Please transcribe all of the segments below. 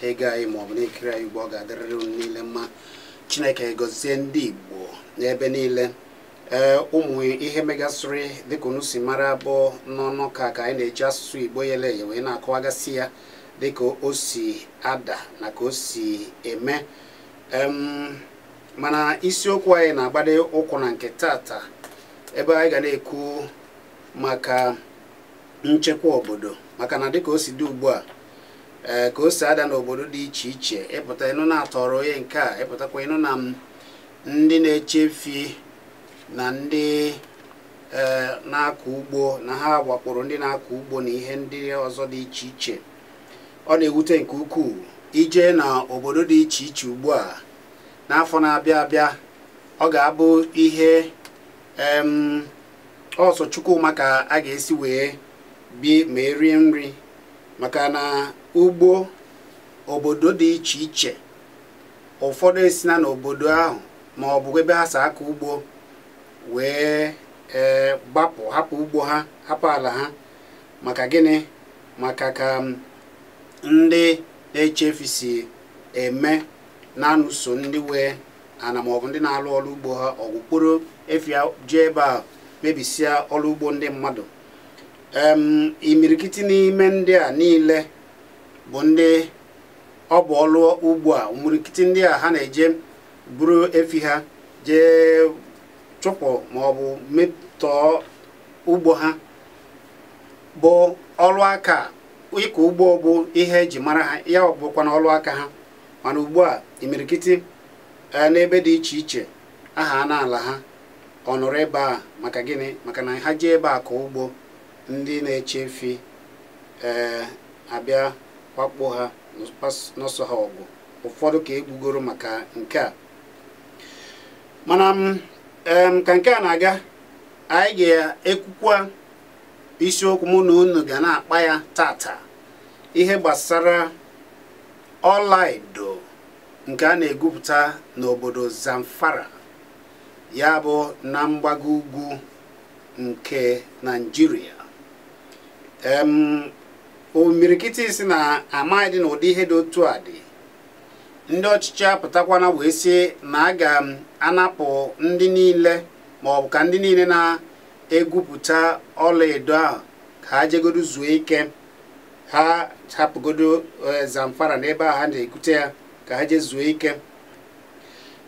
na-ege anyị ma ọ bụ na-ekiri anyị ugbu a ọ ga-adịrịrị unu niile mma chineke gọzie ndị igbo n'ebe niile ee ụmụ ihe megasịrị dịka unu si mara bụ n'ọnụ ka ka anyị na-eji asụsụ igbo yele eye wee na-akọwagasị ya dịka o si ada na ka o si eme em mana isiokwu anyị na-agbado ụkwụ na nke tata ebe anyị ga na-ekwu maka nchekwa obodo maka na dịka o si dị ugbu a ee eh, ka o si ada n'obodo dị iche iche ị pụta ị nụ na a tọrọ onye nke a ị pụtakwa ị nụ na ndị na-eche efi na ndị eh, na-akọ ugbo na ha wakporo ndị na-akọ ugbo na ihe ndị ọzọ dị iche iche ọ na-ewute nke ukwuu i jee na obodo dị iche iche ugbu a n'afọ na-abịa abịa ọ ga-abụ ihe ọ sọ Chukwu ma ka a ga-esi wee bi ma erie nri maka na ugbo obodo dị iche iche ụfọdụ esina n'obodo ahụ ma ọ bụ ebe ha si akọ ugbo wee ee gbapụ hapụ ugbo ha hapụ ala ha maka gịnị maka ka ndị na-eche efi si eme na-anụso ndị nwe ana ma ọ bụ ndị na-alụ ọlụ ugbo ha ọgụ kpọrọ efi jee ebe a mebisịa ọlụ ugbo ndị mmadụ imirikiti n'ime ndị a niile bụ ndị ọ bụ ọlụ ugbo a imirikiti ndị a ha na-eje buru efi ha jee chụpụ ma ọ bụ metọọ ugbo ha bụ ọlụ aka ịkọ ugbo bụ ihe e ji mara ha ya ọ bụkwa na ọlụ aka ha mana ugbu a imirikiti n'ebe dị iche iche ahana ala ha ọ nọrọ ebe a maka gịnị maka na ha jee ebe a kọọ ugbo ndị na-eche efi ee eh, abịa wakpo ha nụso ha ọgụ ụfọdụ ka e gbugoro maka nke a mana mm, ka nke a na-aga anyị ga-ekwukwa isiokwu mụ na unu ga na-akpa ya tata ihe gbasara ọlaedo nke a na-egwupụta n'obodo Zamfara ya bụ na mgbago ugwu nke naijiria imirikiti sị na amaghịdị na ụdị ihe dị otu a dị ndị ọchịchị apụtakwana wee sị na a ga-anapụ ndị niile ma ọ bụ ka ndị niile na-egwupụta ọlaedo ahụ ka ha jegodo zuo ike ha hapụgodo eh, Zamfara n'ebe a ha na-egwute ya ka ha jee zuo ike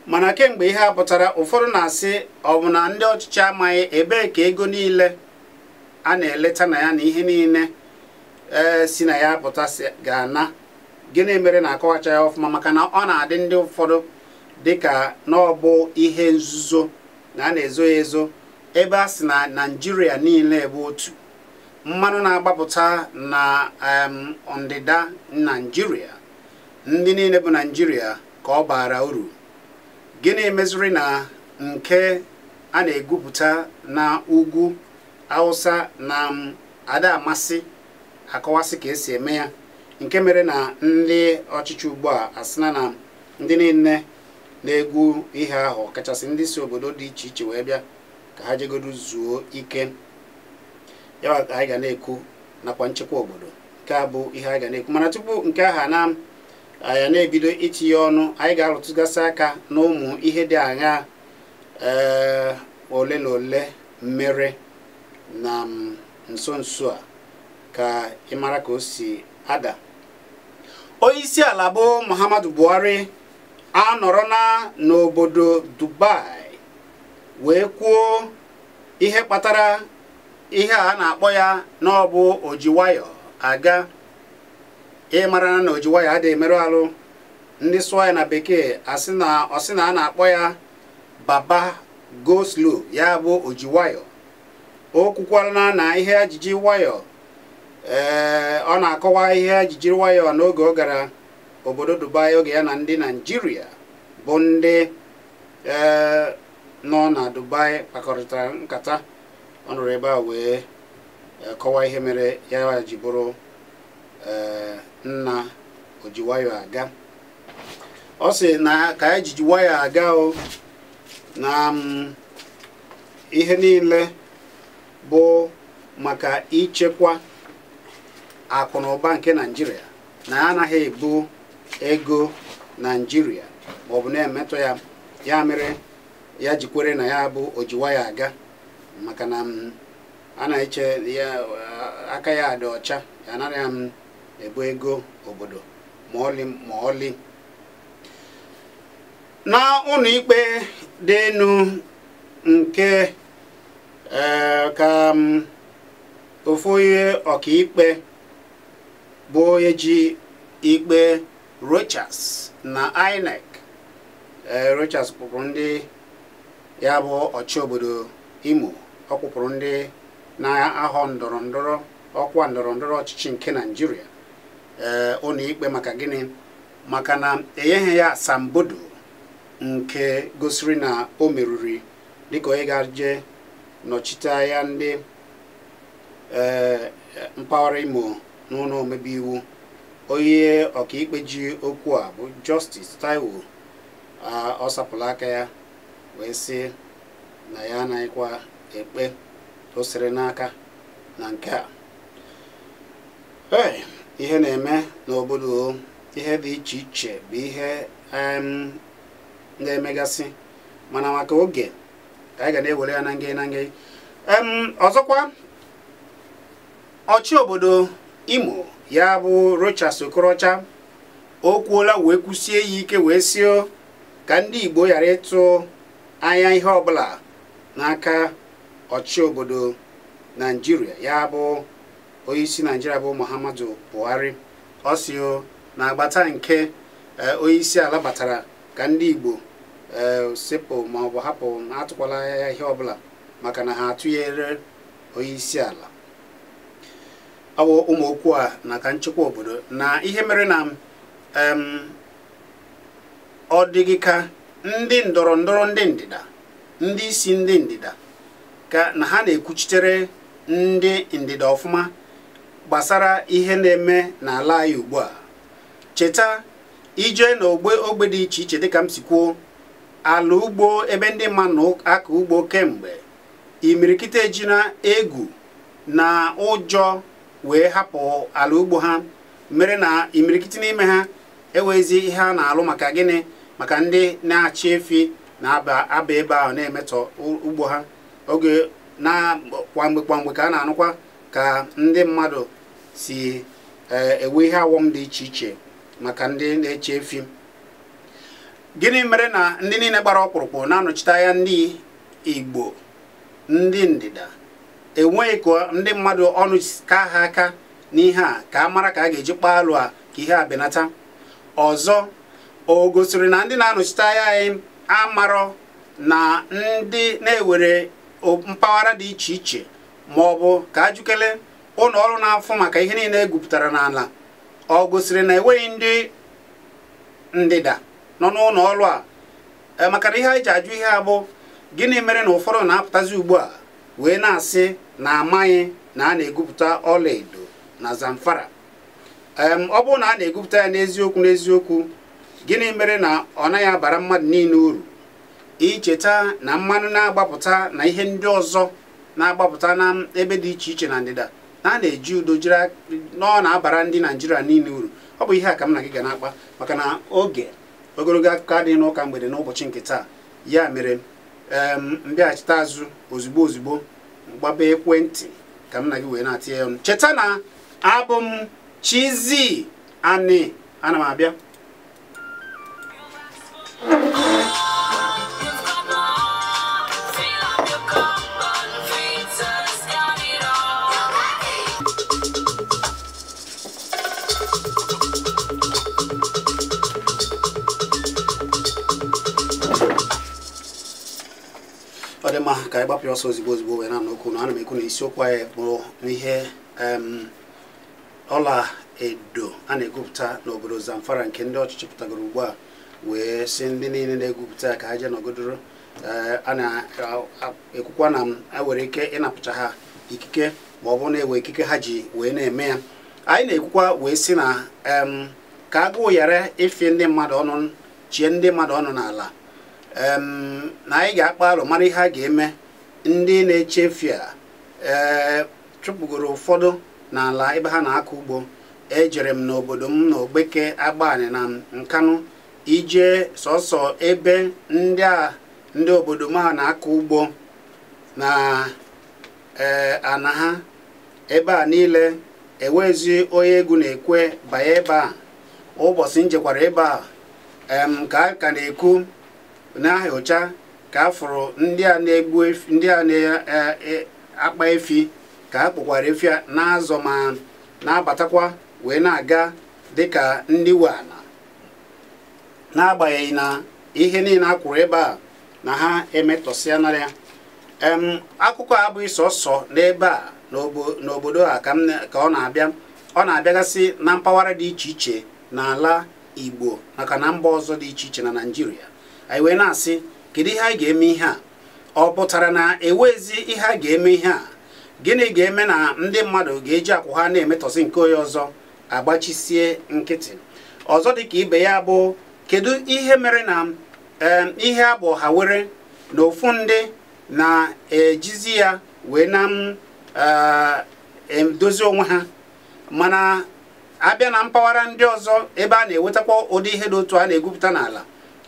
mana kemgbe ihe a pụtara ụfọdụ na-asị ọ bụ na ndị ọchịchị amaghị ebee ka ego niile a na-eleta na ya na ihe niile si na ya apụta ga-ana gịnị mere na-akọwacha ya ọfụma maka na ọ na-adị ndị ụfọdụ dịka na ọ bụ ihe nzuzo na a na-ezo ya ezo ebe a sị na naijiria niile bụ otu mmanụ na-agbapụta na ndịda naijiria ndị niile bụ naijiria ka ọ baara uru gịnị meziri na nke a na-egwupụta na ugwu awụsa na ada amasị akọwasị ka esi eme ya nke mere na ndị ọchịchị ugbu a asịna na ndị niile na-egwu ihe ahụ kachasị ndị si obodo dị iche iche wee bịa ka ha jegodu zuo ike ya anyị ga na-ekwu nakwa nchekwa obodo nke a bụ ihe anyị ga na-ekwu mana tupu nke aha na anyị na-ebido itinye ọnụ anyị ga-arụtụgasị aka n'ụmụ ihe dị aṅa ee ole na ole mere na m, nso nso a ka ị mara ka o si ada onye isi ala bụ muhammadu buhari anọrọna n'obodo dubai wee kwuo ihe kpatara ihe a na-akpọ ya na ọ bụ oji nwayọ aga ị mara na oji wayọ adịghị emerụ arụ ndị sụọ ya na bekee ọ sị na a na-akpọ ya baba go slow ya bụ oji wayọ o kwukwara na ihe ya jiji wayọ ee eh, ọ na-akọwa ihe ya jiji wayọ n'oge ọ gara obodo Dubai oge ya na ndị Naijiria bụ ndị ee eh, nọ na Dubai kpakọrịtara nkata ọ nọrọ ebe a wee eh, kọwa ihe mere ya ji bụrụ ee nna oji nwayọ aga ọ sị na ka ya jiji nwayọ aga o na m ihe niile bụ maka ichekwa akụ na ụba nke naijiria na ya anaghị ebu ego naijiria ma ọ bụ na-emetọ ya ya mere ya ji kwere na ya bụ oji wayọ aga maka na m a na-eche ya aka ya dị ọcha ya anaghị ebu ego obodo ma ọlị na ụlọ ikpe dị enu nke ee ka m ofu onye ọkaikpe bụ onye ji ikpe rochas na inec ee rochas kpụpụrụ ndị ya bụ ọchị obodo Imo ọ kpụpụrụ ndị na-ahọ ndọrọ ndọrọ ọkwa ndọrọ ndọrọ ọchịchị nke Naijiria ee ụlọ ikpe maka gịnị maka na enyeghị ya asambodo nke gosiri na o meriri dịka onye ga-eje nọchite anya ndị ee mpaghara Imo n'ụlọ omebe iwu onye ọkaikpe ji okwu a bụ Justice Taiwo ọ sapụla aka ya wee sị na ya anaghịkwa ekpe o siri n'aka na nke a ihe na-eme n'obodo ihe dị iche iche bụ ihe na-emegasị mana maka oge ka anyị ga na-ewere ya na nge na nge ọzọkwa ọchị obodo Imo ya bụ Rochas Okorocha o kwuola wee kwusie ya ike wee sio ka ndị Igbo ghara ịtụ anya ihe ọbụla n'aka ọchị obodo Naijiria ya bụ onyeisi Naijiria bụ Muhammadu Buhari ọ si na agbata nke e, onyeisi ala batara ka ndị Igbo e, sepụ ma ọ bụ hapụ atụkwala anya ihe ọbụla maka na ha atụnyerọ onyeisi ala ọ bụ ụmụ okwu a na ka nchekwa obodo na ihe mere na ọ dịghị ka ndị ndọrọ ndọrọ ndị ndịda ndị isi ndị ndịda ka na ha na-ekwuchitere ndị ndịda ọfụma gbasara ihe na-eme n'ala anyị ugbu a cheta i jee na ogbe ogbe dị iche iche dịka m si kwuo ala ugbo ebe ndị mmadụ na-akọ ugbo kemgbe imirikiti eji na egwu na ụjọ wee hapụ ala ugbo ha mere na imirikiti n'ime ha enweghịzi ihe ha na-alụ maka gịnị maka ndị na-achị efi na-aba aba ebe ahụ na-emetọ u- ugbo ha oge na kwa mgbe kwa mgbe ka a na-anụkwa ka ndị mmadụ si eh, enwe ihe awọm dị iche iche maka ndị na-achị efi gịnị mere na ndị niile gbara ọkpụrụkpụ na-anọchite anya ndị igbo ndị ndịda enweghị ka ndị mmadụ ọnụ ka ha aka n'ihe a ka a mara ka a ga-eji kpaa alụ a ka ihe a benata ọzọ o gosiri na ndị na-anọchite anya anyị amarọ na ndị na-ewere mpaghara dị iche iche ma ọ bụ ka ajụkele ụlọ ọrụ na-afụ maka ihe niile e gwupụtara n'ala o gosiri na enweghị ndị ndịda nọ n'ụlọ ọrụ a e, maka na ihe anyị ji ajụ ihe a bụ gịnị mere na ụfọdụ na-apụtazi ugbu a wee na-asị na amaghị na a na-egwupụta ọlaedo na Zamfara ọ bụrụ na a na-egwupụta ya n'eziokwu n'eziokwu gịnị mere na ọ naghị abara mmadụ niile uru i cheta na mmanụ na-agbapụta na ihe ndị ọzọ na-agbapụta na ebe dị iche iche na ndịda na a na-eji udo jiri na ọ na-abara ndị naijiria niile uru ọ bụ ihe a ka m na gị ga na-akpa maka na oge ogologo akụkọ adịghị n'ụka mgbede n'ụbọchị nke taa ya mere m bịaghachite azụ ozugbo ozugbo gbaba ekwentị ka m na gị wee na-atinye ya ọnụ cheta na abụ m Chizzy Ani ana m abịa ọ dị mma ka anyị gbapụ ọsọ ozigbo ozigbo wee na-anụ okwu na ana m ekwu na isiokwu anyị kpụrụ n'ihe ọla edo a na-egwupụta n'obodo Zamfara nke ndị ọchịchị pụtagoro ugbu a wee sị ndị niile na-egwupụta ka ha jee nọgodoro eh, a na-ekwukwa na e were ike ịnapụcha ha ikike ma ọ bụ na-ewe ikike ha ji wee na-eme ya anyị na-ekwukwa wee sị na ka agụụ ghara ịfị ndị mmadụ ọnụ chie ndị mmadụ ọnụ n'ala na anyị ga-akpa alo mara ihe a ga-eme ndị na-achị efi a ee chụpụgoro ụfọdụ n'ala ebe ha na-akọ ugbo ejere m n'obodo m na ogbeke agbani na nkanụ i jee sọsọ ebe ndị a ndị obodo m ha na-akọ ugbo na ee ana ha ebe a niile ewezi onye egwu na-ekwe banye ebe a ụbọchị m jekwara ebe a em ka a ka na-ekwu na-ahụcha ka a fụrụ ndị a na-egbu ndị a na-akpa e, e, efi ka ha kpụkwara efi a na-azọ ma na-abatakwa wee na-aga dịka ndị we ana n'agbanyeghị na ihe niile a kwụrụ ebe a na ha emetọsịanara ya akụkọ a abụghị sọsọ n'ebe a n'obodo a ka ọ na-abịa ọ na-abịagasị na mpaghara dị iche iche n'ala igbo maka na mba ọzọ dị iche iche na naijiria anyị wee na-asị kedu ihe anyị ga-eme ihe a ọ pụtara na ewezi ihe a ga-eme ihe a gịnị ga-eme na ndị mmadụ ga-eji akwụ ha na-emetọsị nke onye ọzọ a gbachisie nkịtị ọzọ dị ka ibe ya bụ kedu ihe mere na ihe a bụ ọha were na ofu ndị na-ejizi ya wee na-edozi eh, onwe ha mana a bịa na mpaghara ndị ọzọ ebe a na-ewetakwa ụdị ihe dị otu a na-egwupụta n'ala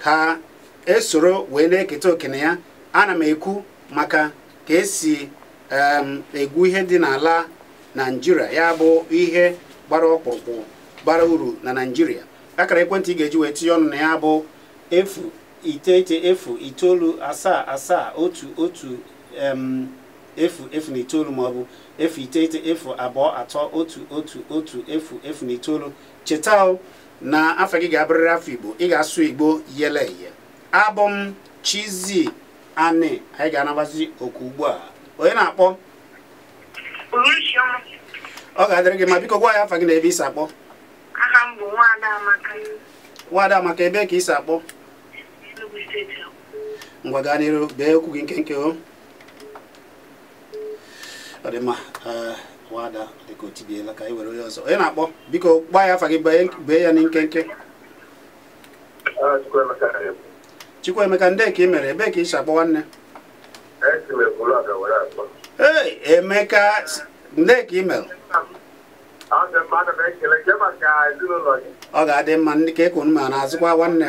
ha esoro wee na-eketa oke na ya ana m ekwu maka ka esi egwu ihe dị n'ala naijiria ya bụ ihe gbara ọkpụrụkpụ bara uru na naijiria akara ekwentị ị ga-eji wee tinye ọnụ na ya bụ efu iteghete efu itoolu asaa asaa otu otu efu efu na itoolu ma ọ bụ efu iteghete efu abụọ atọ otu otu otu efu efu na itoolu cheta na afọ gị ga-abụrịrị afọ igbo ị ga-asụ igbo yele eye abụ m chizi anị anyị ga-anabazi oku ugbu a onye na-akpọ ọ ga-adịrị gị mma biko gwa anyị afa gị na ebe ị si akpọ nwada amaka ebe ka ị si akpọ ngwa gaa n'iru bee okwu gị nkenke o ọ dị mma eh, nwada dịka o tibiela ka anyị were onye ọzọ onye na-akpọ biko gwa anyị afa gị bee ya na nkenke Chukwuemeka ndị ka ị mere ebee ka ị si akpọ nwanne ee Emeka ndị ka ị mere ọ ga-adị mma ndị ka ekwu ma na-azụkwa nwanne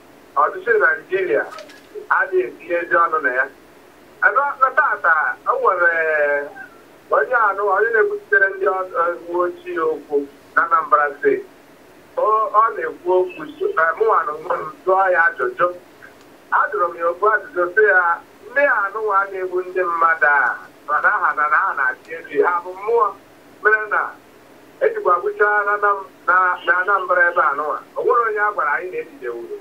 ọchịchị Naijiria adịghị etinye ezi ọnụ na ya ebe na tata o nwere onye anụ onye na-ekwuchitere ndị uwe ojii okwu na Anambra steeti ọ na-ekwu okwu mụnwa n'onwe m jụọ ya ajụjụ ajụrụ m ya okwu ajụjụ sị ya ndị anụnwa na-egbu ndị mmadụ a mana aha na na ha na-achị efi ha bụ mmụọ mere na ejikwa egbuchaa na Anambra ebe anụwa o nwere onye a gwara anyị na ejidewuru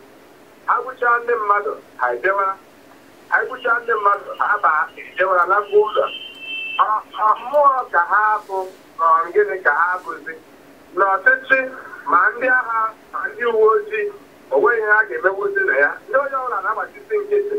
ha gbuchaa ndị mmadụ ha ejewara anyị gbuchaa ndị mmadụ ha ba ejewara nakwa ụlọ mmụọ ka ha bụ gịnị ka ha bụzi na ọchịchị ma ndị agha ma ndị uwe ojii o nweghị ihe ha ga-emewuzi na ya ndị onye ọbụla na-agbachisi nkịtị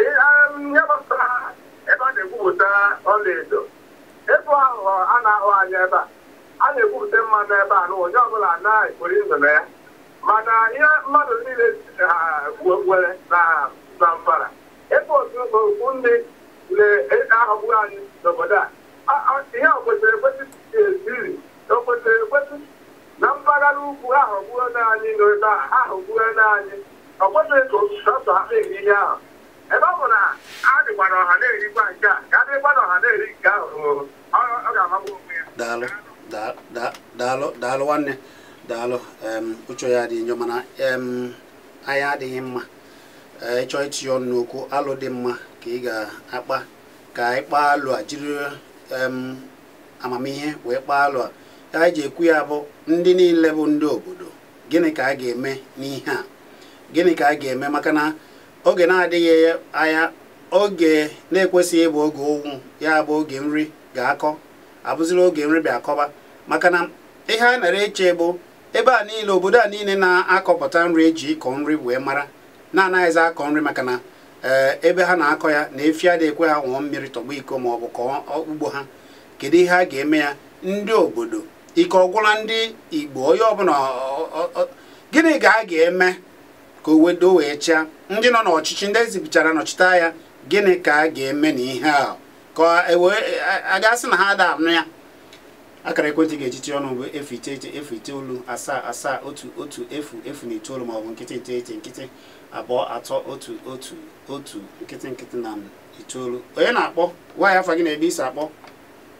ihe gbasara ebe a na-egwupụta ọlaedo ego ahụ a na-ahụ anya ebe a a na-egwupụta mmanụ ebe a na onye ọbụla na-ekpori ndụ na ya mana ihe mmadụ niile nwere na zamfara ebe otu okwu ndị na-ahọgbu anyị n'obodo a ihe o kwesịrị ekwesị eziri o kwesịrị ekwesị na mpaghara ugwu ahọgbuona anyị n'obodo a ahọgbuona anyị ọ kwesịrị ka otu sọsọ ha na-eri ihe ahụ ebe ọ bụ na a dịkwa na ọha na-erikwa nke a ka a dịkwa na ọha na-eri nke ahụ ọ- ọ ọ ga-amagbu onwe ya daalụ da- da- daalụ daalụ nwanne daalụ em, uche ya dị njọ mana em, anyị adịghị mma Ee, ị chọọ itinye ọnụ n'okwu alo dị mma ka ị ga-akpa ka anyị kpaa alo a jiri em, amamihe wee kpaa alo a ka anyị ji ekwu ya bụ ndị niile bụ ndị obodo gịnị ka a ga-eme n'ihe a gịnị ka a ga-eme maka na oge na-adịghị anya oge na-ekwesịghị ịbụ oge ụnwụ ya bụ oge nri ga-akọ abụziri oge nri bịa akọba maka na ihe a nara eche bụ ebe a niile obodo a niile na-akọpụta nri eji ịkọ nri wee mara na-anaghịzi akọ nri maka na eh, ebe ha na-akọ ya na efi adịghị ekwe ha ṅụọ mmiri tọgbọ iko ma ọ bụ kọọ ugbo ha kedu ihe a ga-eme ya ndị obodo ike ọ gwụla ndị igbo onye ọbụla gịnị ka a ga-eme ka o wedo wee chịa ndị nọ n'ọchịchị ndị ezibichara nọchite anya gịnị ka a ga-eme n'ihe a ka e a ga-asị na ha ada anụ ya akara ekwentị ga-eji tinye ọnụ bụ efu iteghete efu itoolu asaa asaa otu otu efu efu na itoolu maọbụ nkịtị iteghete nkịtị abụọ atọ otu otu otu nkịtị nkịtị na itoolu onye na-akpọ gwa anyị afa gị na ebe i si akpọ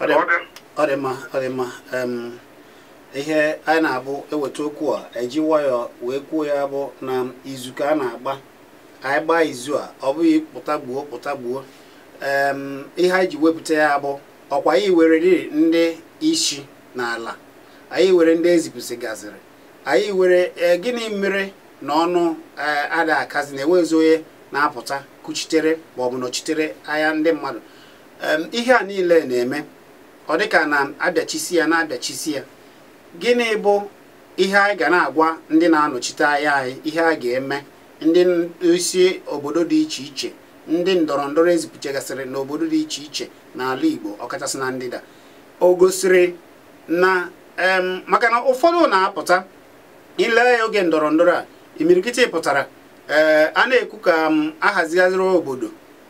ọ dị mma ọ dị mma ihe anyị na-abụ eweta okwu a eji nwayọọ wee kwuo ya bụ na izu ka a na-agba anyị gbaa izu a ọ bụghị kpụta gbuo kpụta gbuo ihe anyị ji wepụta ya bụ ọ kwa anyị nwere ndị isi n'ala anyị nwere ndị ezipụsịgaziri anyị nwere e, gịnị mere na ọnụ e, ada akazi na enweghịzi onye na-apụta kuchitere maọbụ nọchitere anya ndị mmadụ ihe a niile na-eme ọ dịka na abịachisi ya na-abịachisi ya gịnị bụ ihe anyị ga na-agwa ndị na-anọchite anya anyị ihe a ga-eme ndị isi obodo dị iche iche ndị ndọrọ ndọrọ ezipụchagasịrị n'obodo dị iche iche n'ala Igbo ọkachasị na ndịda o gosiri na maka na ụfọdụ na-apụta ị lee ya oge ndọrọ ndọrọ a imirikiti pụtara ee a na-ekwu ka ahazigharị obodo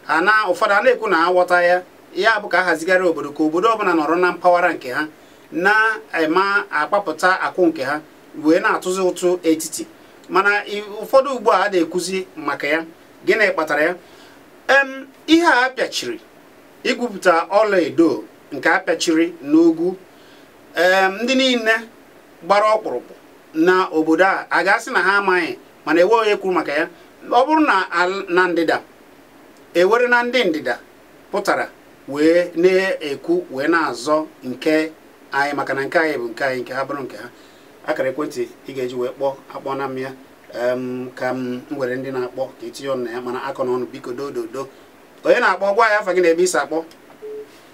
ana ụfọdụ a na-ekwu na aghọta ya ya bụ ka ahazigharị obodo ka obodo ọbụla nọrọ na mpaghara nke ha na em akpapụta akụ nke ha wee na-atụzi ụtụ etiti mana ụfọdụ ugbu a ada ekwuzi maka ya gịnị kpatara ya em ihe a pịachiri igwupụta ọla edo nke a pịachiri n'ugwu ee ndị niile gbara ọkpụrụkpụ na obodo a a ga-asị na ha amaghị mana enweghị onye kwuru maka ya ọ bụrụ na na ndịda ewere na ndị ndịda pụtara wee na-ekwu wee na-azọ nke anyị maka na nke anyị bụ nke anyị nke ha bụrụ nke ha akara ekwentị ị ga-eji wee kpọọ akpọ n'ime ya ka m were ndị na-akpọ ka e tinye ọnụ na ya mana akọna ọnụ biko do do do onye na-akpọ gwa anyị afa gị na ebe i si akpọ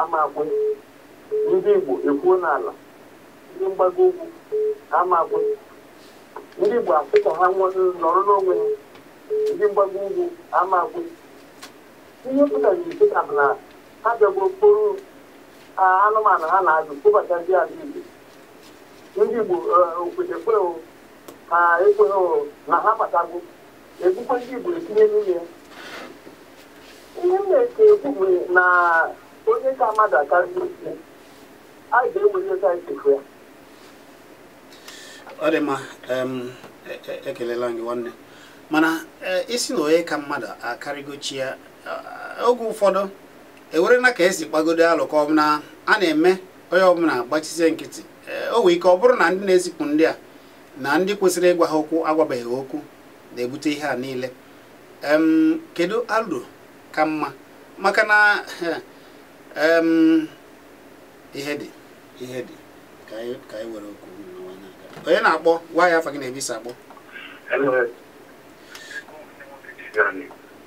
amakwe ndị Igbo ekwuo n'ala ndị mgbago ugwu amakwe ndị Igbo asị ka ha nọrọ n'onwe ha ndị mgbago ugwu amakwe ihe pụtara kịta bụ na ha bịago kpụrụ anụmanụ ha na-azụ kpụbatazi ala Igbo ndị Igbo okwete kweghị ha ekweghị na ha batago egbukwa ndị Igbo etinye n'ụlọ ya ihe m na-eke ekwu bụ na onye ka mmadụ akarị a ga-ewere ego anyị chefu ya ọ dị mma em, e- e- ekelela gị nwanne mana e, ị sị na onye ka mmadụ akarịgo chi ya a- oge ụfọdụ ewere na ka e si kpagodo alụ ka ọ bụ na a na-eme onye ọbụla agbachisie nkịtị E, o nwee ike ọ bụrụ na ndị na-ezipụ ndị a na ndị kwesịrị ịgwa ha okwu agwabeghị ha okwu na-ebute ihe a niile em kedu alo ka mma maka na em ihe dị ihe dị ka anyị ka anyị were oku nụwa n'aka. onye na-akpọ gwa anyị afa gị na ebe i si akpọ Hello.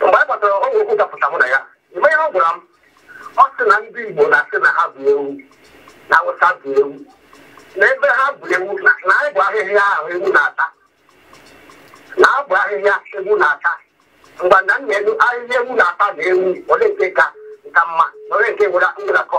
mgbe anyị batara ọgwụ okwu dapụta mụ na ya ị ma ihe ọ gwara m ọ sị na ndị Igbo na-asị na ha bụ ewu na Awụsa bụ ewu na ebe ha bụ ewu na anyị bụ ahịhịa ahụ ewu na-ata na abụ ahịhịa ewu na-ata mgbe na nna elu ahịhịa ewu na-ata na ewu olee nke ka nka mma na olee nke nwere ngwụrakọ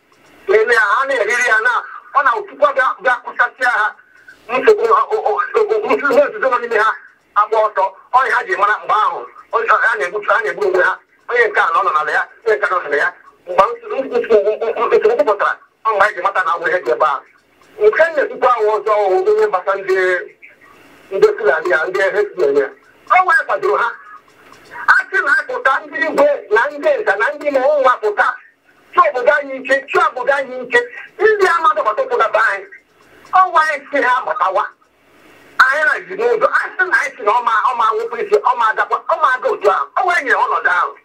na-eme ya ha na-eriri ya na ọ na Chukwu ga-akụsasịa ha nsogbu nzuzo nọ n'ime ha agba ọtọ ọ ya ha ji mara mgbe ahụ ha na-egbutu ha na-egbu onwe ha onye nke a na ọ nọ n'ala ya onye nke a nọ n'ala ya mgbe nsogbu pụtara ọ mgbe anyị ji mata na e nwere ihe dị ebe a nke na-ekwukwa ahụ ọzọ ihe gbasara ndị ndị Fulani a ndị herdsmen a ọ onwe anyị kwadoro ha a sị na apụta ndị igwe na ndị nta na ndị mmụọ nwa pụta chee obodo anyị nche chee obodo anyị nche ndị a mmadụ gbata ụkwụ gaba anyị ọ onwe anyị sị ha batawa anyị na ji n'ụzọ a sị na anyị si na ọma ọma nwụpụ isi ọma agakwa ọma aga otu ahụ ọ onwe anyị nyere ọnọdụ ahụ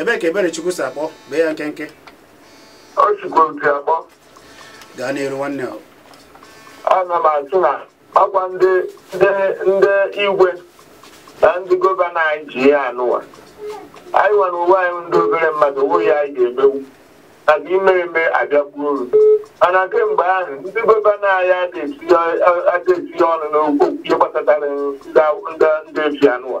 ebee ka ebere chukwu si akpọ bee ya nkenke ọ chukwu si akpọ gaa n'iru nwanne ọ ana m asị na ọkwa ndị igwe na ndị gọvanọ anyị ji ihe anụwa anyị nwere onwe anyị ndị obere mmadụ o nwee ihe anyị ga-emewu maka ime eme abịakwuo uru mana kemgbe ahụ ndị gọvanọ anyị adịghị etinye ọnụ n'okwu ihe gbasatara ndị efi anụwa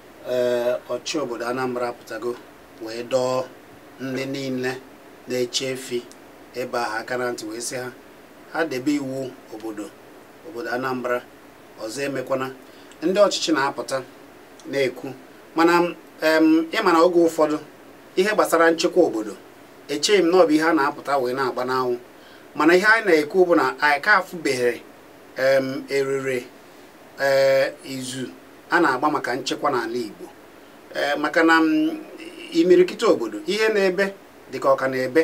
ee ọchị obodo Anambra apụtago wee dọọ ndị niile na-eche efi ebe ahụ aka na ntị wee sị ha ha debe iwu obodo obodo Anambra ọzọ emekwana ndị ọchịchị na-apụta na-ekwu mana ị ma na oge ụfọdụ ihe gbasara nchekwa obodo echeghị m na ọ bụ ihe a na-apụta wee na-agba n'anwụ mana ihe anyị na-ekwu bụ na anyị ka afụbeghị erere e, izu a na-agba maka nchekwa n'ala Igbo ee maka na mm, imirikiti obodo ihe na-ebe dịka ọka na-ebe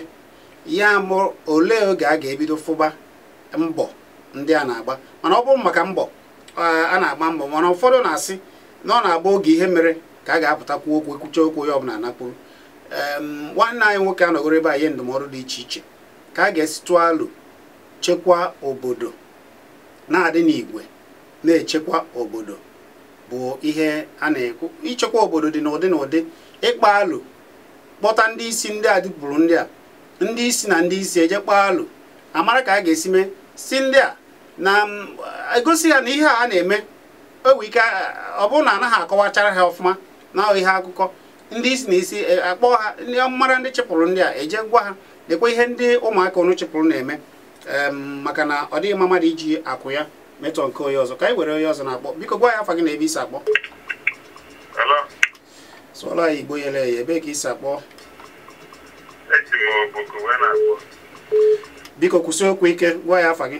ya mụ olee oge a ga-ebido fụba mbọ ndị a na-agba mana ọ bụrụ maka mbọ a na-agba mbọ mana ụfọdụ na-asị na ọ na-abụ oge ihe mere ka a ga-apụta kwuo okwu ekwucha okwu onye ọbụla anakpuru nwanne anyị nwoke anọgoro ebe a nye ndụmọdụ dị iche iche ka a ga-esi tụọ alo chekwa obodo na-adị n'igwe na-echekwa obodo bụ ihe a na-ekwu ichekwa obodo dị n'ụdị n'ụdị ịkpa alo kpọta ndị isi ndị a dịpụrụ ndị a ndị isi na ndị isi eje kpaa alo amara ka a ga-esi mee si ndị a na egosi ya na ihe a na-eme o nwee ike ọ bụrụ na anaghị akọwachara ha ọfụma na ihe akụkọ ndị isi na isi e, akpọ ha ndị mara ndị chịpụrụ ndị a eje gwa ha lekwa ihe ndị ụmụaka unu chịpụrụ na-eme maka na ọ dịghị mma mmadụ iji akụ ya metọ nke onye ọzọ ka anyị were onye ọzọ na-akpọ biko gwa anyị afa gị na ebe i si akpọ sụọlụ anyị igbo yere eye ebee ka i si akpọ biko kwusi okwu ike gwa anyị afa gị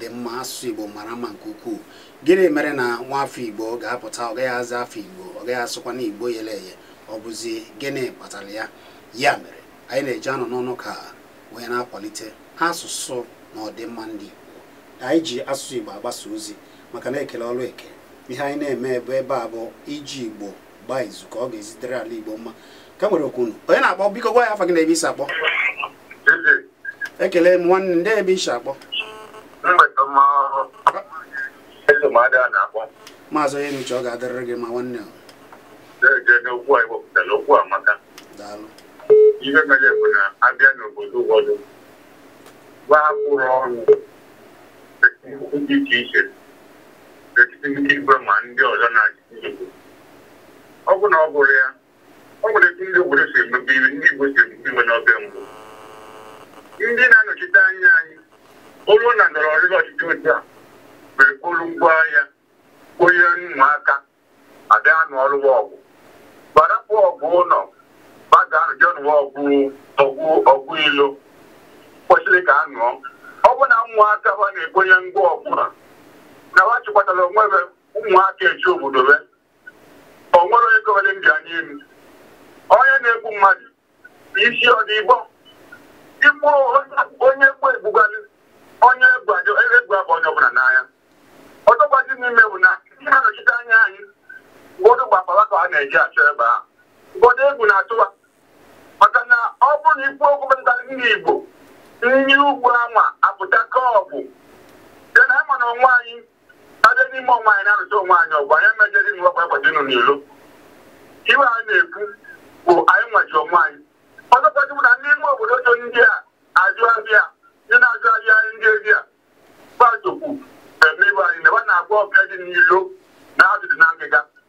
dị mma asụsụ igbo mara mma nke ukwuu gịnị mere na nwa afọ igbo ga-apụta ọ gaghị aza afa igbo ọ gaghị asụkwanụ igbo yere eye ọ bụzi gịnị kpatara ya ya mere anyị na-eji anọ n'ọnụ ka wee na-akwalite asụsụ na ọdịmma ndị igbo anyị ji asụsụ igbo agbasa ozi maka na ekele ọrụ eke ihe anyị na-eme ebe ebe a bụ iji igbo gbaa izu ka ọ ga-esi dịrị ala igbo mma ka anyị were oku unu onye na-akpọ biko gwa anyị afa gị na ebe i si akpọ Eze, ekele m nwanne ndị ebe i si akpọ maazị onye nuche ọ ga-adịrịrị gị mma nwanne daalụ ihe mere bụ na a bịa n'obodo ụfọdụ gbapụrụ ọnụ dị iche iche n'etiti ndị igwe ma ndị ọzọ na-achị ọ bụ na ọ bụrụ ya o nwere etu ndị obodo si emebe ihe ndị Igbo si emebe ihe n'oge mbụ ndị na-anọchite anya anyị olu na ndọrọ ndọrọ ọchịchị otu a mere kpolu ngwa agha kponye ụmụaka a bịa anụ ọrụ ọgụ gbarapụ ọgụ ụlọ ba ga-eje nụwa ọgụ ilo kwesịrị ka a nụọ ọ bụ na ụmụaka ha na-ekponye ngwa ọgụ ha na ha chịkwatara onwe ha ụmụaka eji obodo be o nwere onye kọwere m ji anya elu onye na-egbu mmadụ isi ọ dị ịbọ igbu onye egbu egbugbalị onye egbu ajọ egbu abụ onye ọbụla n'anya ọzọkwazi n'ime bụ na ndị na-anọchite anya anyị ụfọdụ bụ akpa ha ka ha na-eje achọ ebe a ụfọdụ egwu na-atụwa maka na ọ bụrụ na i kwuo okwu metụtara ndị Igbo ndị ugwu anwa apụta ka ọgụ dị n'ama na onwe anyị a bịa n'ime onwe anyị na-alụta onwe anyị ọgụ anyị emejere ịnụ ọgụ ekweta ịnụ n'ilo ihe a na-ekwu bụ anyị nwa ji onwe anyị ọzọkwazi bụ na ndị ime obodo so ndị a ajụ abịa ndị na-ajụ abịa ndị ezi a gbazokwu eme ibe anyị na ebe a na-agwa ọbịa dị n'ilo na azụ dị na ngịga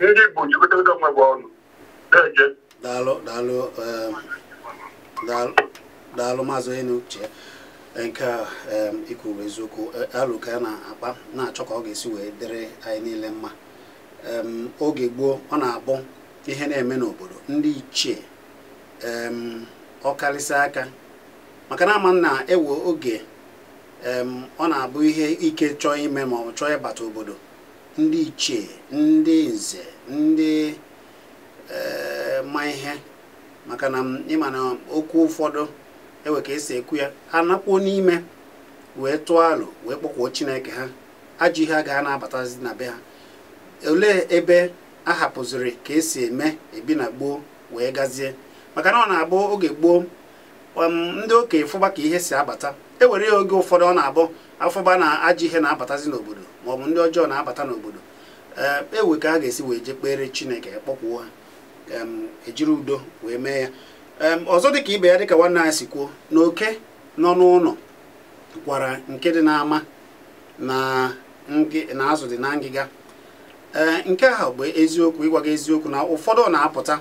ndị Igbo jikọta onwe be ọnụ na-eje daalụ daalụ um, daalụ maazị onye nuche nke a um, i kwu eziokwu e, alo ka a na-akpa na-achọ ka ọ ga-esi wee dịrị anyị niile mma um, oge gboo ọ na-abụ ihe na-eme n'obodo ndị ichie ọkarịsịa ka maka na a ma na e nwee oge ọ na-abụ ihe ike chọọ ime ma ọ chọọ ịbata obodo ndị ichie ndị nze ndị eh, ma ihe maka na ị ma na okwu ụfọdụ e nwee ka e si ekwu ya ha anakpuo n'ime wee tụọ alo wee kpọkuo chineke ha ajọ ihe agaghị na-abatazi na be ha olee ebe a hapụziri ka e si eme ebi na gboo wee gazie maka na ọ na-abụ oge gboo ndị okenye fụba ka ihe si abata e were ya oge ụfọdụ ọ na-abụ a fụba na ajọ ihe na-abatazi n'obodo maọbụ ndị ọjọọ na-abata n'obodo e nwee ka a ga-esi wee jee kpere chineke kpọkuo ha e jiri udo wee mee ya ọzọ dịka ibe ya dịka nwanne anyị si kwuo na oke nọ n'ụlọ gwara nke dị n'ama na azụ dị na ngịga ee eh, nke ahụ bụ eziokwu ịgwa gị eziokwu na ụfọdụ na-apụta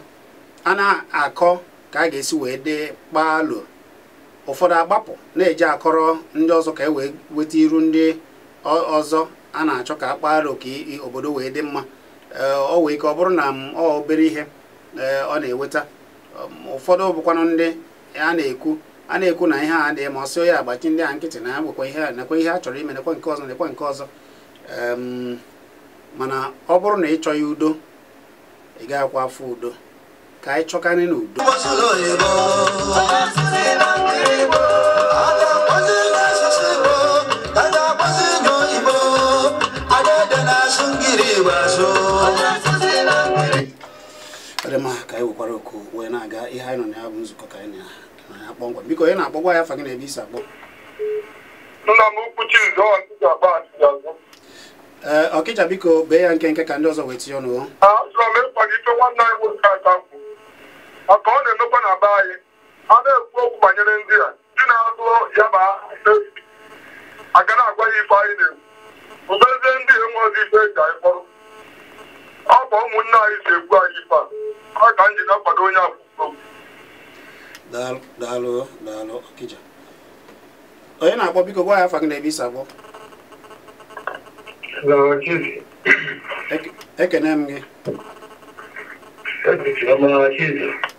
a na-akọ ka a ga-esi wee dị kpaalụ ụfọdụ agbapụ na-eji akọrọ ndị ọzọ ka e wee weta iru ndị ọzọ a na-achọ ka a kpaalụ ka obodo wee dị mma o nwee ike ọ bụrụ na ọ obere ihe ọ na-eweta um, ụfọdụ bụkwanụ ndị a na-ekwu a na-ekwu na ihe a adịghị mma ọ sị ya agbachi ndị a nkịtị na ya nekwa ihe nekwa ihe a chọrọ ime nekwa nke ọzọ nekwa nke ọzọ um, mana ọ bụrụ na ị chọghị udo ị gaghịkwa afụ udo ka anyị chọkarị n'udo dị mma ka anyị wekwara oku wee na-aga ihe anyị nọ na ya bụ nzukọ ka anyị na ya kpọmkwem biko onye na-akpọ gwa anyị afa gị na ebe i si akpọ nna m ukwu Chizọọ Ntịgaba Achịazụ ee Ọkịja biko bee ya nkenke ka ndị ọzọ wee tinye ọnụ achọrọ m ịkwado ife nwanne anyị nwoke a ka kwu maka ọ na-emekwa na be anyị a na-ekwu okwu banyere ndị a ndị na-azụ ya ma a ga na-agwa ya ife anyị na-ekwu mbezie ndị enweghị ife e ji anyị kpọrọ ọ bụ ụmụnne anyị si egbu anyị ife a ọ ka m ji na-akwado onye a kwu okwu daalụ daalụ daalụ Ọkịja onye na-akpọ biko gwa anyị afa gị na ebe i si akpọ ekene m gị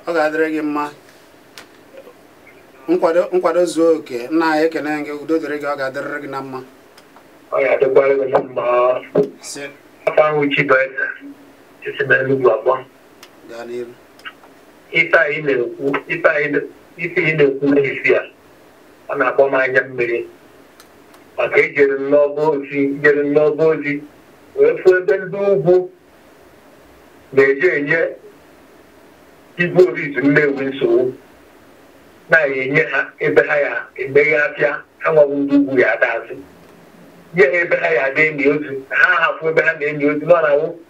ọ ga-adịrị gị mma nkwado nkwado zuo oke nna anyị ekene m gị udo dịrị gị ọ ga-adịrịrị gị na mma ọ ga-adịkwara gị na mma ife anyị na-ekwu ife anyị na-ekwu n'isi a ọ na-akpọ m anya mmiri maka ejere m n'Ọba ozi jere m n'Ọba ozi wee fụ ebe ndị ugwu na-eji enye Igwe Orizu Nnewi nsogbu na ya enye ha ebe ha ya-emeghe afịa ha nwa wụ ndị ugwu ya ada azụ nye ha ebe ha ya na-eni ozu ha hapụ ebe ha na-eni ozu nọ na-awụ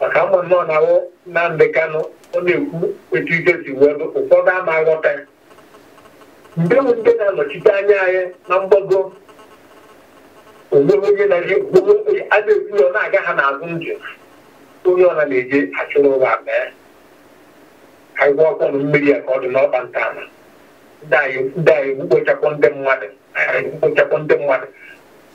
maka ama nnọọ na ahụ Nnamdị Kanụ ọ na-ekwu etu ike si wee bụ ụfọdụ ama aghọta ya ndị bụ ndị na-anọchite anya anyị na mgbago o nweghị onye na-eji a na-ekwu ya ọ na-aga ha n'azụ ndụ onye ọ bụla na-eje achụrụ ụwa mee anyị kwọkwanụ mmiri a ka ọ dị n'ọkpa nta ma ndị anyị ndị anyị mkpochapụ ndị mmadụ anyị mkpochapụ ndị mmadụ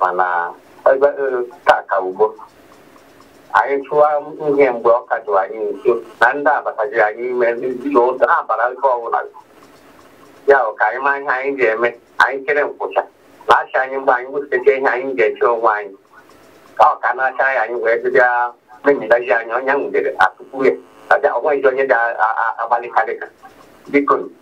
mana ebe ka ka ugbo anyị chụwa ihe mgbe ọ ka jụrụ anyị nso na ndị abataji anyị ime ndị na ụzọ ha bara nke ọbụla ya bụ ka anyị maa ihe anyị ga-eme anyị chere nkwụcha na-achị anyị mgbe anyị wụsịcha ihe anyị ga-eche onwe anyị ka ọ ka na-acha anyị anyị wee bịa mebidaji anyị onye nwudere atụkwu ya ọnweghịzi onye ga-agbalịkarịka biko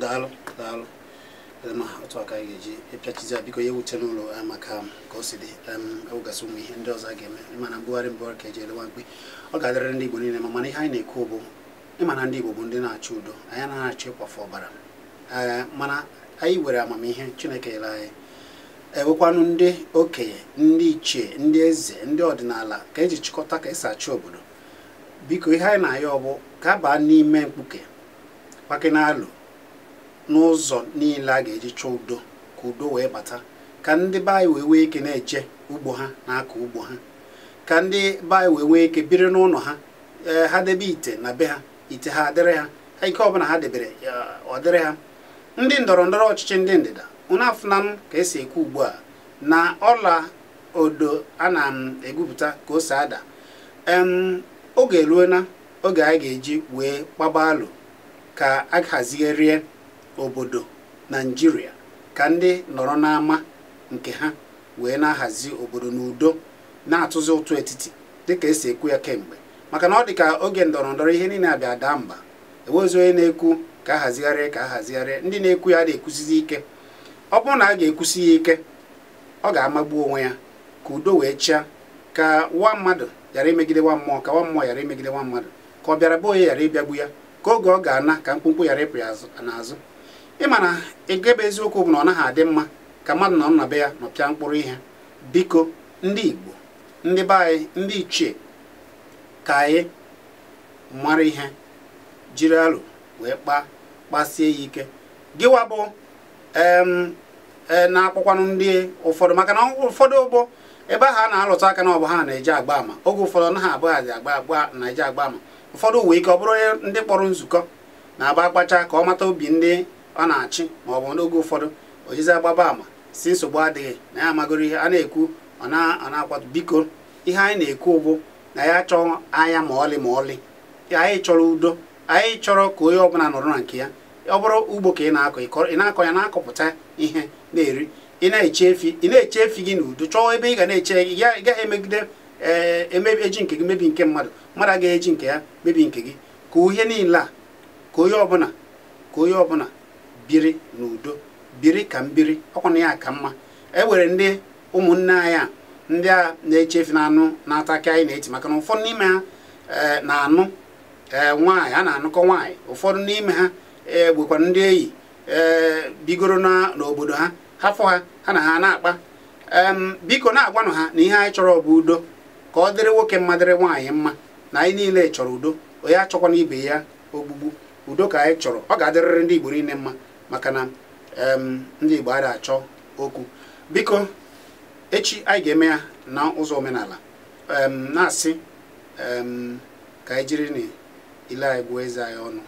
daalụ daalụ ma otu a ka anyị ga-eji pịachizie biko ya ewutena unu eh, maka um, ka o si dị enwegasị um, ụmụ ihe ndị ọzọ a ga-eme mana mbugharị mbugharị ka eji ele nwa mkpi ọ ga-adịrịrị ndị Igbo niile mma mana ihe anyị na-ekwu bụ ị ma na ndị Igbo bụ ndị na-achọ udo anyị anaghị achọ ịkwafe ọbara ee mana anyị were amamihe Chineke nyere anyị ewekwanụ ndị okenye ndị ichie ndị eze ndị ọdịnala ka eji chịkọta ka esi achị obodo biko ihe anyị na-ayọ bụ ka a baa n'ime mkpuke kpakene alo n'ụzọ niile a ga-eji chọọ udo ka udo wee bata ka ndị be anyị wee nwee ike na-eje ugbo ha na-akọ ugbo ha ka ndị be anyị wee nwee ike biri n'ụlọ ha ee ha debe ite na be ha ite ha adịrị ha ihe ọbụla ha debere ọ dịrị ha ndị ndọrọ ndọrọ ọchịchị ndị ndịda unu afụnanụ ka esi ekwu ugbu a na ọla odo a na-egwupụta ka o si ada oge eruona oge anyị ga-eji wee kpaba alo ka a hazigharịa obodo Naịjirịa ka ndị nọrọ n'ama nke ha wee na-ahazi obodo n'udo na-atụzi ụtụ etiti dịka esi ekwu ya kemgbe maka na ọ dị ka oge ndọrọ ndọrọ ihe niile abịa daa mba enwezi onye na-ekwu ka a hazigharịa ka a hazigharịa ndị na-ekwu ya na-ekwusizi ike ọ bụrụ na a ga-ekwusi ya ike ọ ga-amagbu onwe ya ka udo wee chịa ka nwa mmadụ ghara imegide nwa mmụọ ka nwa mmụọ ghara imegide nwa mmadụ ka ọbịara be onye ghara ịbịagbu ya ka oge ọ ga-ana ka mkpumkpu ghara ịpụ ya n'azụ ị ma na ị gebe eziokwu bụ na ọ naghị adị mma ka mmadụ nọ na be ya nọpịa mkpụrụ ihe biko ndị Igbo ndị be anyị ndị ichie ka anyị mara ihe jiri alo wee kpaa kpasie ya ike gịwa bụ e, na-akpọkwanụ ndị ụfọdụ maka na ụfọdụ ụgbọ ebe ahụ a na-alụtụ aka na ọ bụ ha na-eji agba ama oge ụfọdụ na ha abụghị agba agba na-eji agba ama ụfọdụ nwee ike ọ bụrụ onye ndị kpọrọ nzukọ na-agba akpacha ka ọ mata obi ndị ọ na-achị ma ọ bụ n'oge ụfọdụ o jizi agbaba ama sị nsogbu adịghị na ya amagoro ihe a na-ekwu ọ na-akwado biko ihe anyị na-ekwu bụ na anyị achọọ aya ma ọlị ma ọlị anyị chọrọ udo anyị chọrọ ka onye ọbụla nọrọ na nke ya ọ bụrụ ugbo ka ị na-akọ ị na-akọ ya na-akọpụta ihe ị na-eri ị na-eche efi ị na-eche efi gị n'udo chọọ ebe ị ga na-eche ị gaghị emegide ee eh, emebi eji nke gị mebi nke mmadụ mmadụ agaghị eji nke ya mebi nke gị ka ihe niile a ka onye ọbụla ka onye ọbụla biri n'udo biri ka m biri ọkwa na ya ka mma e were ndị ụmụnne anyị a ndị a na-eche efi na anụ na-ata akị anyị na-eti maka na ụfọdụ n'ime ha eh, na-anụ eh, nwaanyị a na-anụkọ nwaanyị ụfọdụ n'ime ha eh, bụkwara ndị enyi eh, bigoro na- n'obodo ha ha fụ ha ha na ha na-akpa Em, biko na-agwanụ ha na ihe anyị chọrọ bụ udo ka ọ dịrị nwoke mma dịrị nwaanyị mma na anyị niile chọrọ udo onye achọkwana ibe ya ogbugbu udo ka anyị chọrọ ọ ga-adịrịrị ndị Igbo niile mma maka na ndị Igbo adịghị achọ okwu biko echi anyị ga-eme ya na ụzọ omenala na-asị ka anyị jirinụ ile anyị gụọ eze anyị ọnụ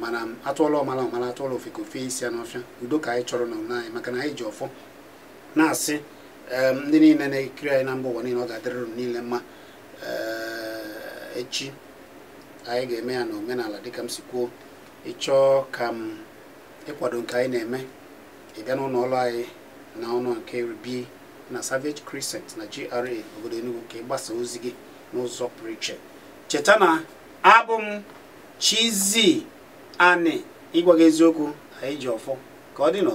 mana a tụọla ọmala ọ mala a tụọla ofeke o fe isi ya n'ọfịa udo ka anyị chọrọ na ụlọ anyị maka na anyị ji ọfọ na-asị ndị niile na-ekiri anyị na mba ụwa niile ọ ga-adịrịrị niile mma eh, echi anyị ga-eme ya na omenala dịka m si kwuo ị chọọ ka m ịkwado nke anyị na-eme ị bịa n'ụlọ ọrụ anyị na ụlọ nke iri dị na Savage Crescent na GRA obodo Enugu ka ị gbasaa ozi gị n'ụzọ pụrụ iche cheta na abụ m Chizzy Ani ịgwa gị eziokwu anyị ji ọfọ ka ọ dịnụ